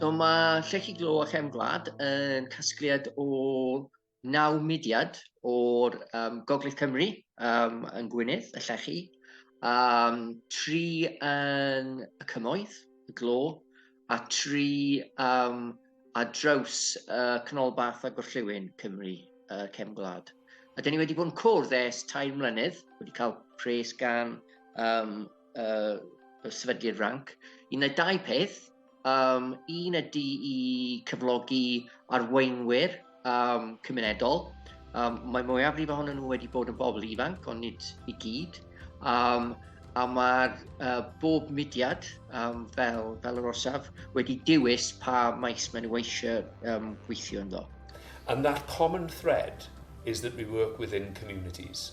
So mae Llechi Glo a Chefn Gwlad yn casgliad o naw mudiad o'r um, Gogledd Cymru um, yn Gwynedd, y Llechi, um, tri yn y Cymoedd, y Glo, a tri um, a draws uh, Cnolbath a Gorllewin Cymru, uh, Cefn Gwlad. A dyn ni wedi bod yn cwrdd ers tair mlynedd, wedi cael pres gan um, uh, y sefydliad ranc i wneud dau peth. Um, un ydy i cyflogi arweinwyr um, cymunedol. Um, mae mwyafrif ohonyn nhw wedi bod yn bobl ifanc, ond nid i gyd. Um, a mae'r uh, bob mudiad um, fel, fel yr orsaf wedi dewis pa maes maen nhw eisiau um, gweithio ynddo. And that common thread is that we work within communities.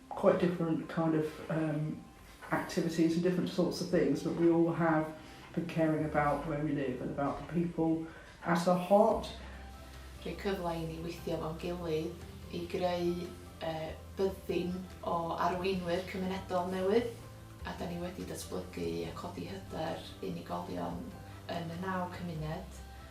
quite different kind of um, activities and different sorts of things, but we all have been caring about where we live and about the people at our heart. Rhoi cyfle i ni weithio fo'n gilydd i greu uh, byddin o arweinwyr cymunedol newydd a da ni wedi datblygu a codi hyder unigolion yn y naw cymuned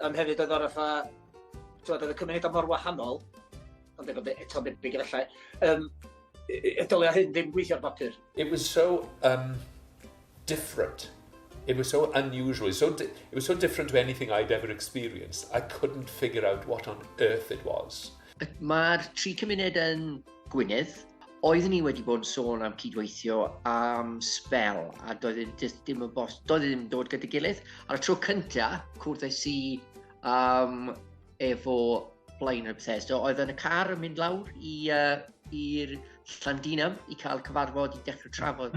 Yym hefyd oedd o'r fatha t'mod oedd y cymunedau mor wahanol ond efo be- eto be' be' efallai yym yy yy y dylia hyn ddim gweithio ar bapur. It was so um different. It was so unusual. So di- it was so different to anything I'd ever experienced. I couldn't figure out what on earth it was. Mae'r tri cymuned yn Gwynedd. Oeddwn i wedi bod yn sôn am cydweithio am sbel a doedd e jyst ddim yn bos, doedd e ddim yn dod gyda gilydd. Ar y tro cynta, cwrddais i um, efo blaen y Bethesda, oedd yn y car yn mynd lawr i'r uh, Llandinam i cael cyfarfod i dechrau trafod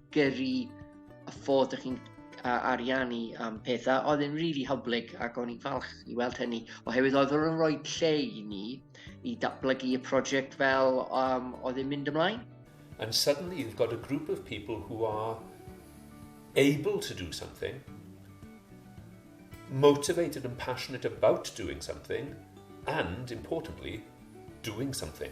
gyrru y ffordd ydych chi'n a ariannu am pethau, oedd yn rili really hyblyg ac o'n i'n falch i weld hynny, oherwydd oedd o'n rhoi lle i ni i datblygu y prosiect fel um, oedd yn mynd ymlaen. And suddenly you've got a group of people who are able to do something, motivated and passionate about doing something, and, importantly, doing something.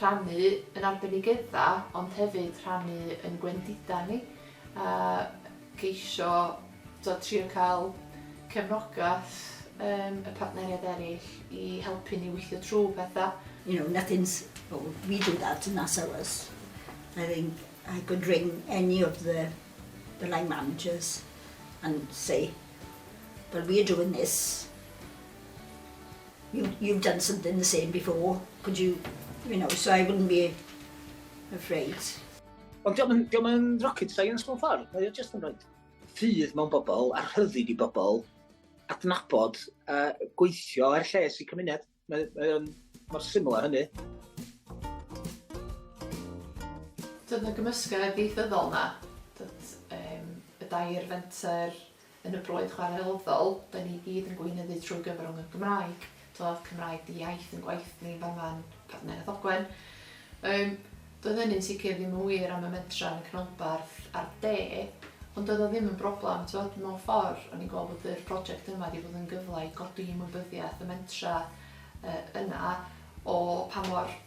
rhannu yn arbenigeddau ond hefyd rhannu yn gwendidau ni a ceisio tibod trio cael cefnogaeth um, y partneriaid eraill i helpu ni weithio trwy pethau. You know, nothing's, well, we do that and that's ours. I think I could ring any of the, the line managers and say, well, we're doing this, You, you've done something the same before, could you, you know, so I wouldn't be afraid. Ond diolch yn, diolch yn rocket science mewn ffordd, mae o just yn rhaid ffydd mewn bobl a rhyddid i bobl adnabod a gweithio er lles i cymuned. Mae, mae o'n mor syml â hynny. Dod yn y gymysgedd ieithyddol na, dod, um, y dair fenter, Yn y broydd chwarelddol, da ni gyd yn gweinyddu trwy gyfrwng y Gymraeg. Do, ath Cymraeg di iaith yn gwaith ni fan fan Partneriaeth Ogwen. Um, doedd hynny'n sicr ddim yn wir am y mentra yn y canolbarth a'r de, ond doedd o ddim yn broblem. Tywed, mewn ffordd, o'n i'n gweld bod yr prosiect yma wedi bod yn gyfle i godi ymwybyddiaeth y mentra uh, yna o pa mor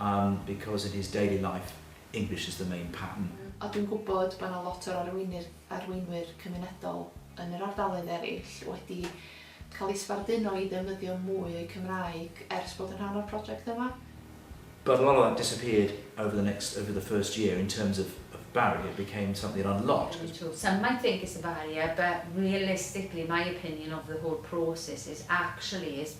Umm because in his daily life English is the main pattern. A dwi'n gwybod bod yna lot o'r arweinir, arweinwyr cymunedol yn yr ardaloedd eraill wedi cael eu sbarduno i ddefnyddio mwy o'u Cymraeg ers bod yn rhan o'r project yma. But a lot of that disappeared over the next, over the first year in terms of of Barry, it became something that a lot. Very true. Some might think it's a barrier but realistically my opinion of the whole process is actually it's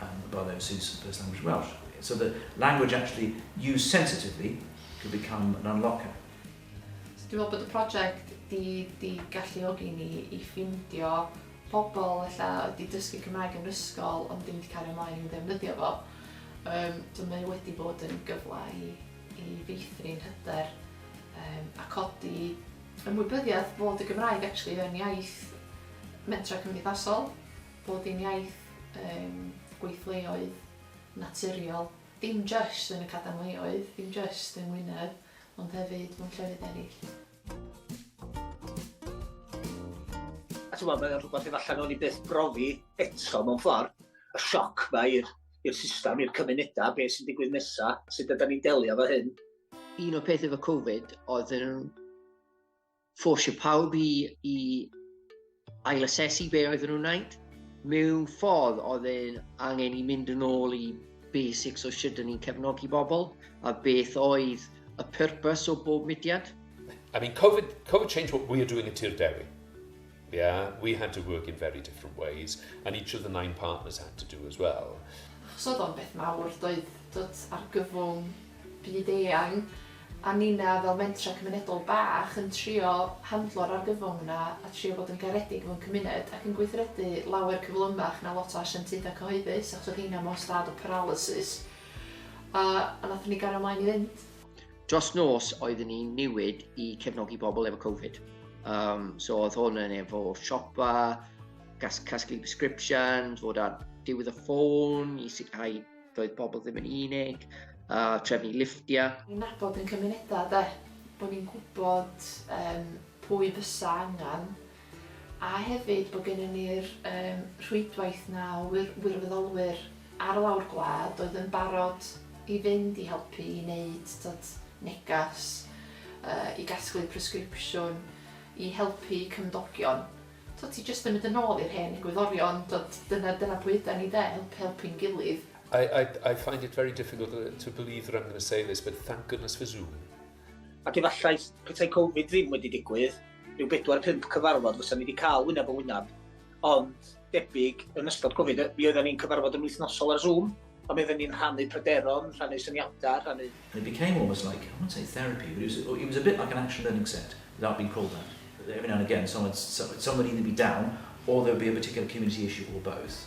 um, above OC's first language Welsh. So the language actually used sensitively could become an unlocker. So dwi'n meddwl bod y prosiect di, di galluogi ni i ffindio pobl lle wedi dysgu Cymraeg yn ysgol ond ddim wedi cael ei ymlaen i ddefnyddio fo. Um, so mae wedi bod yn gyfle i, i feithrin hyder um, a codi ymwybyddiaeth bod y Gymraeg actually yn iaith mentra cymdeithasol Bod yn iaith yym gweithleoedd naturiol, dim jyst yn y cadarnleoedd, dim jyst yng Ngwynedd, ond hefyd mewn llefydd eraill. A t'mod, mae o'n rhywbeth efallai o'n i byth brofi eto mewn ffordd, y sioc ma i'r i'r system, i'r cymunedau, beth sy'n digwydd nesaf, sut ydyn ni'n delio efo hyn. Un o'r peth efo Covid oedd yn ffosio pawb i, i ailasesu be oedden nhw'n wneud. Mewn ffordd oedd e'n angen i mynd yn ôl i basics o sut ni'n cefnogi bobl a beth oedd y purpose o bob mudiad. I mean, COVID, COVID changed what we are doing at Tir Dewi. Yeah, we had to work in very different ways, and each of the nine partners had to do as well. Achos oedd o'n beth mawr, doedd dod argyfwng byd eang, a nina fel mentra cymunedol bach yn trio handlo'r argyfwng yna a trio bod yn garedig mewn cymuned ac yn gweithredu lawer cyflymach na lot o asiantaethau cyhoeddus achos oedd heina mewn stad o paralysis a, a nath ni gario mlaen i fynd. Dros nos, oeddwn i'n newid i cefnogi pobl efo Covid. Um, so oedd hwn yn efo siopa, gas, casglu prescription, fod ar diwedd y ffôn i sicrhau doedd pobl ddim yn unig, uh, trefnu liftiau. Ni'n nabod yn cymunedau de, bod ni'n gwybod um, pwy fysa angen a hefyd bod gennym ni'r yym rhwydwaith 'na o wir- wirfoddolwyr ar lawr gwlad oedd yn barod i fynd i helpu i neud t'od negas yy i gasglu presgripsiwn i helpu cymdogion. T'od ti jyst yn mynd yn ôl i'r hen egwyddorion t'od dyna dyna pwy ydan ni 'de helpu helpu'n gilydd. I I I find it very difficult yy to believe that I'm going to say this but thank goodness for Zoom. Ac efallai petai Covid ddim wedi digwydd, ryw bedwar pump cyfarfod fysa ni wedi cael wyneb yn wyneb, ond debyg yn ystod Covid, mi oedden ni'n cyfarfod yn wythnosol ar Zoom, ond mi oedden ni'n rhannu pryderon, rhannu syniadau, rhannu... And it became almost like, I won't say therapy, but it was, it was a bit like an action learning set, without being called that. Every now and again, someone, someone would either be down, or there would be a particular community issue, or both.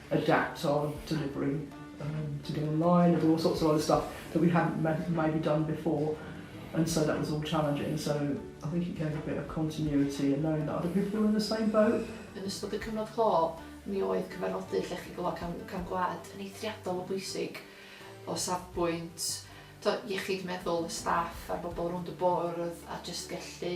adapt or delivering erm to get online and all sorts of other stuff that we hadn't maybe done before and so that was all challenging so I think it gave a bit of continuity and knowing that other people were in the same boat. Yn ystod y cyfnod clo, mi oedd cyfarfodydd llechi gofal cam, cam gwlad yn eithriadol o bwysig o safbwynt to, iechyd meddwl y staff a'r bobl rownd y bwrdd a just gellu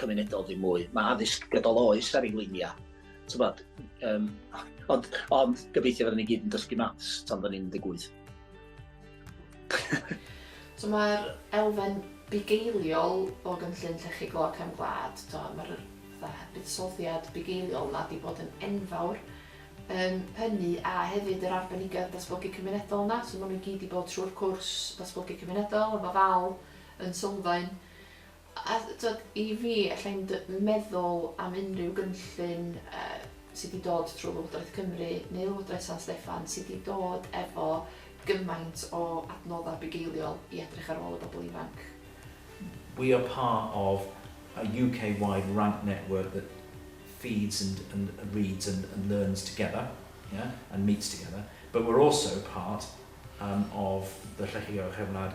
cymunedol ddim mwy. Mae addysg gydol oes ar ei luniau. Tybod, um, ond, ond gobeithio fydden ni gyd yn dysgu maths tan fydden ni'n 18. so mae'r elfen bugeiliol o gynllun llechi glo cefn gwlad, mae'r buddsoddiad bugeiliol yna wedi bod yn enfawr. Um, hynny a hefyd yr arbenigedd datblygu cymunedol yna, so maen nhw gyd wedi bod trwy'r cwrs datblygu cymunedol, efo ddal yn sylfaen. A t'od i fi ella i'n d- meddwl am unrhyw gynllun yy sy 'di dod trw Lywodraeth Cymru neu Lywodraeth San Steffan sy 'di dod efo gymaint o adnodda bugeiliol i edrych ar ôl y bobl ifanc. We are part of a UK wide rank network that feeds and and reads and and learns together yeah and meets together but we're also part um of the Llechi Gorchefnad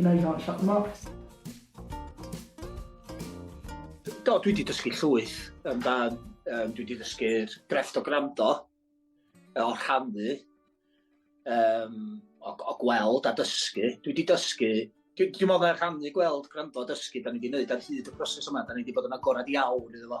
Yna i gael shot marks. Do, dwi wedi dysgu llwyth amdan, um, dwi wedi dysgu'r grefft o grando, o rhannu, um, o, o gweld a dysgu. Dwi wedi dysgu, dwi'n dwi meddwl rhannu, gweld, gwrando a dysgu, da ni wedi gwneud ar hyd y proses yma, da ni wedi bod yn agorad iawn iddo fo.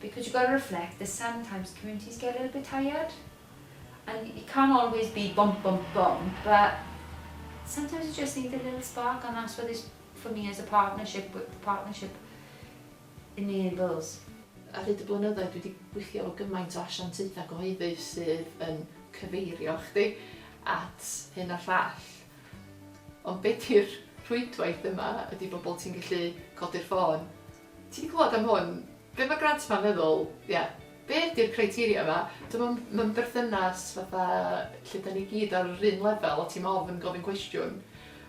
Because you've got to reflect that sometimes communities get a little bit tired and it can't always be bump bump bump but sometimes you just need a little spark and that's what this for me as a partnership with the partnership enables. Ar hyd y blynyddoedd dwi 'di gwylltio efo gymaint o asiantaethau cyhoeddus sydd yn cyfeirio chdi at hyn a llall ond be 'di'r rhwydwaith yma ydi bobl ti'n gallu codi'r ffôn Ti 'di clywed am hwn? Be ma' Grant 'ma'n feddwl? Ie. Be ydi'r criteria 'ma? Dw i'm yn, mewn berthynas fatha lle 'dan ni gyd ar yr un lefel a ti'm ofn gofyn cwestiwn.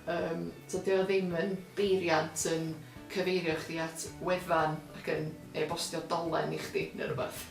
Yym, so 'di o ddim yn beiriant yn cyfeirio chdi at wefan ac yn e-bostio dolen i chdi ne' rwbath.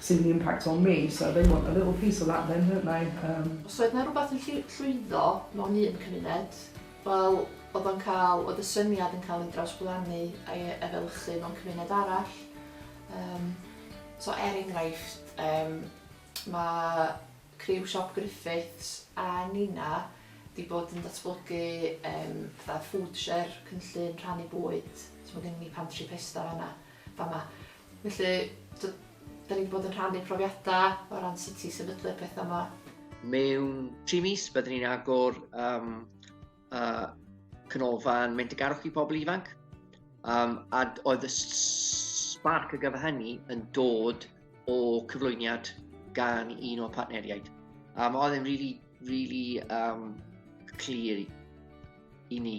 Sy'n the impact on me, so they want a little piece of that then, don't they? Umm. Os oedd 'na rwbath yn llu- llwyddo mewn un cymuned, wel, oedd o'n cael, oedd y syniad yn cael ei drawsblannu a'i e- efelychu mewn cymuned arall. Umm, so er enghraifft, umm, mae criw Siop Griffiths a Nina 'di bod yn datblygu, umm, fatha food share, cynllun rhannu bwyd, so mae gennym ni pantri pesta fan'na, fama. Felly, t'od, 'dan ni 'di bod yn rhannu profiada o ran sut i sefydlu'r petha 'ma. Mewn tri mis byddwn ni'n agor um, uh, canolfan mendigarwch i pobl ifanc. Um, a oedd y spark y gyfer hynny yn dod o cyflwyniad gan un o'r partneriaid. Um, oedd e'n really, really um, clir i ni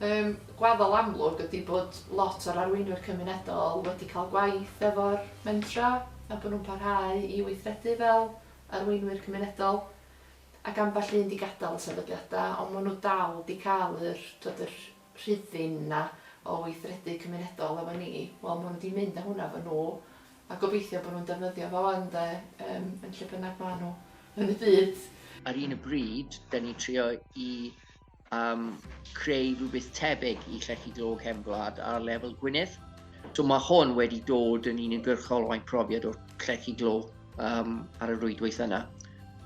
Y gwaddol amlwg ydy bod lot o'r arweinwyr cymunedol wedi cael gwaith efo'r mentrau a bod nhw'n parhau i weithredu fel arweinwyr cymunedol ac ambell un 'di gadael y sefydliadau ond maen nhw dal 'di cael yr tibod yr rhuddin 'na o weithredu cymunedol efo ni. Wel maen nhw 'di mynd â hwnna efo nhw a gobeithio bod nhw'n defnyddio fo 'wan de yym yn lle bynnag maen nhw yn y byd. Ar un y bryd, 'da ni'n trio i am creu rhywbeth tebyg i Llechi Glo Cefn Gwlad ar lefel Gwynedd. So mae hwn wedi dod yn uniongyrchol o'n profiad o'r Llechi Glo um, ar y rwydwaith yna.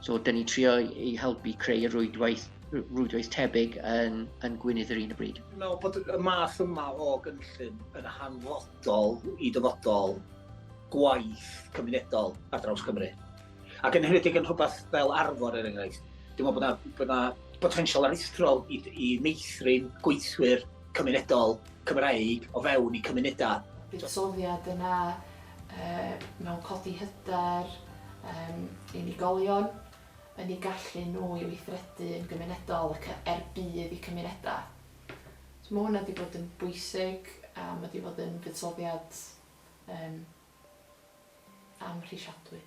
So dyn ni trio i helpu creu y rwydwaith, rwydwaith tebyg yn, yn Gwynedd yr un y bryd. Mewn bod y math yma o gynllun yn hanfodol i dyfodol gwaith cymunedol ar draws Cymru. Ac yn hynedig yn rhywbeth fel arfor, er enghraifft, dwi'n meddwl bod yna, bod yna potensial aruthrol i, i meithrin gweithwyr cymunedol Cymraeg o fewn i cymunedau. Buddsoddiad yna uh, mewn codi hyder um, unigolion, yn ei gallu nhw i weithredu yn gymunedol ac er budd i cymunedau. So mae hwnna wedi bod yn bwysig a mae wedi bod yn fuddsoddiad um, amhrisiadwy.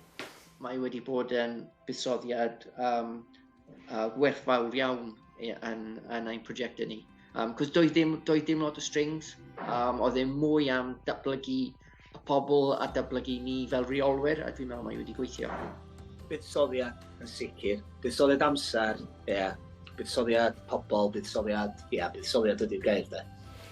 Mae wedi bod yn buddsoddiad um, uh, werthfawr iawn yn, yn ein prosiectau ni. Um, cos doedd ddim, doedd ddim lot o strings, um, oedd ddim mwy am datblygu y pobl a datblygu ni fel reolwyr, a dwi'n meddwl mae wedi gweithio. Buddsoddiad yn sicr, buddsoddiad amser, ie, yeah. buddsoddiad pobl, buddsoddiad, ie, yeah, buddsoddiad ydy'r gair de.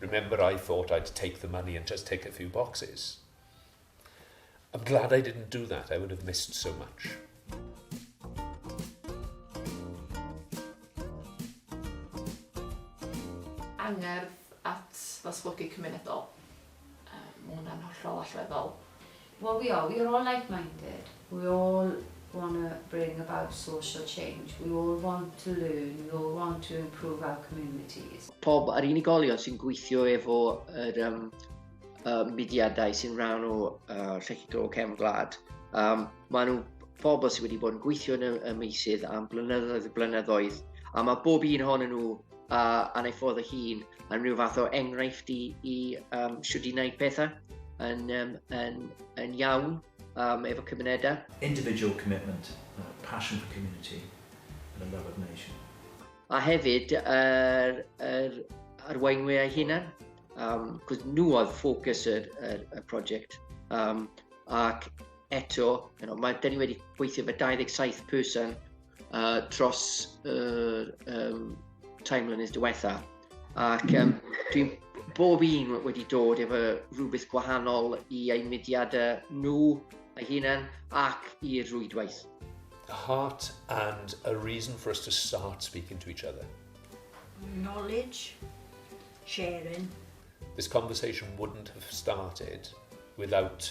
Remember I thought I'd take the money and just tick a few boxes. I'm glad I didn't do that, I would have missed so much. Angerdd at ddatblygu cymunedol. Um, mae hwnna'n hollol allweddol. Well we are, we are all like minded, we all want to bring about social change, we all want to learn, we all want to improve our communities. Pob a'r unigolion sy'n gweithio efo yr um, uh, mudiadau sy'n rhan o uh, Llechigol Cefn Gwlad. Um, mae nhw pobl sydd wedi bod yn gweithio yn y, y meisydd am blynyddoedd y blynyddoedd, a mae bob un ohonyn nhw a, a ei ffordd o hun yn rhyw fath o enghraifft i, i um, siwr i wneud pethau yn, um, yn, yn iawn um, efo cymunedau. Individual commitment, uh, passion for community and a love of nation. A hefyd, yr, er, arweinwyr eu hunan, um, cwrs nhw oedd ffocws y, y, y prosiect. Um, ac eto, you know, mae, dyn ni wedi gweithio fe 27 person uh, dros y uh, um, time mlynedd diwetha. Ac um, dwi bob un wedi dod efo rhywbeth gwahanol i eu mudiadau nhw eu hunain ac i'r rwydwaith. Heart and a reason for us to start speaking to each other. Knowledge, sharing. This conversation wouldn't have started without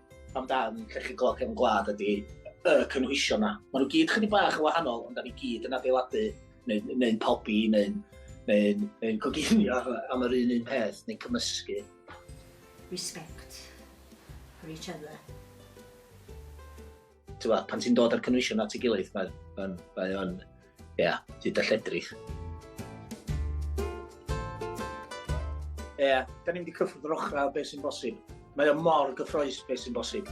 amdan llechi glo cefn gwlad ydy y cynhwysion 'na. Ma' nw gyd chydig bach yn wahanol ond 'dan ni gyd yn adeiladu neu'n neu'n pobi neu'n neu'n neu'n coginio am yr un un peth neu'n cymysgu. Respect for each other. Ti'n gwybod, pan ti'n dod â'r cynwysion at ei gilydd, mae o'n, mae o'n, ie, yeah, ti'n dalledrith. Ie, yeah, da ni'n mynd i cyffwrdd yr ochrau o beth sy'n bosib. Mae o'n mor gyffroes beth sy'n bosib.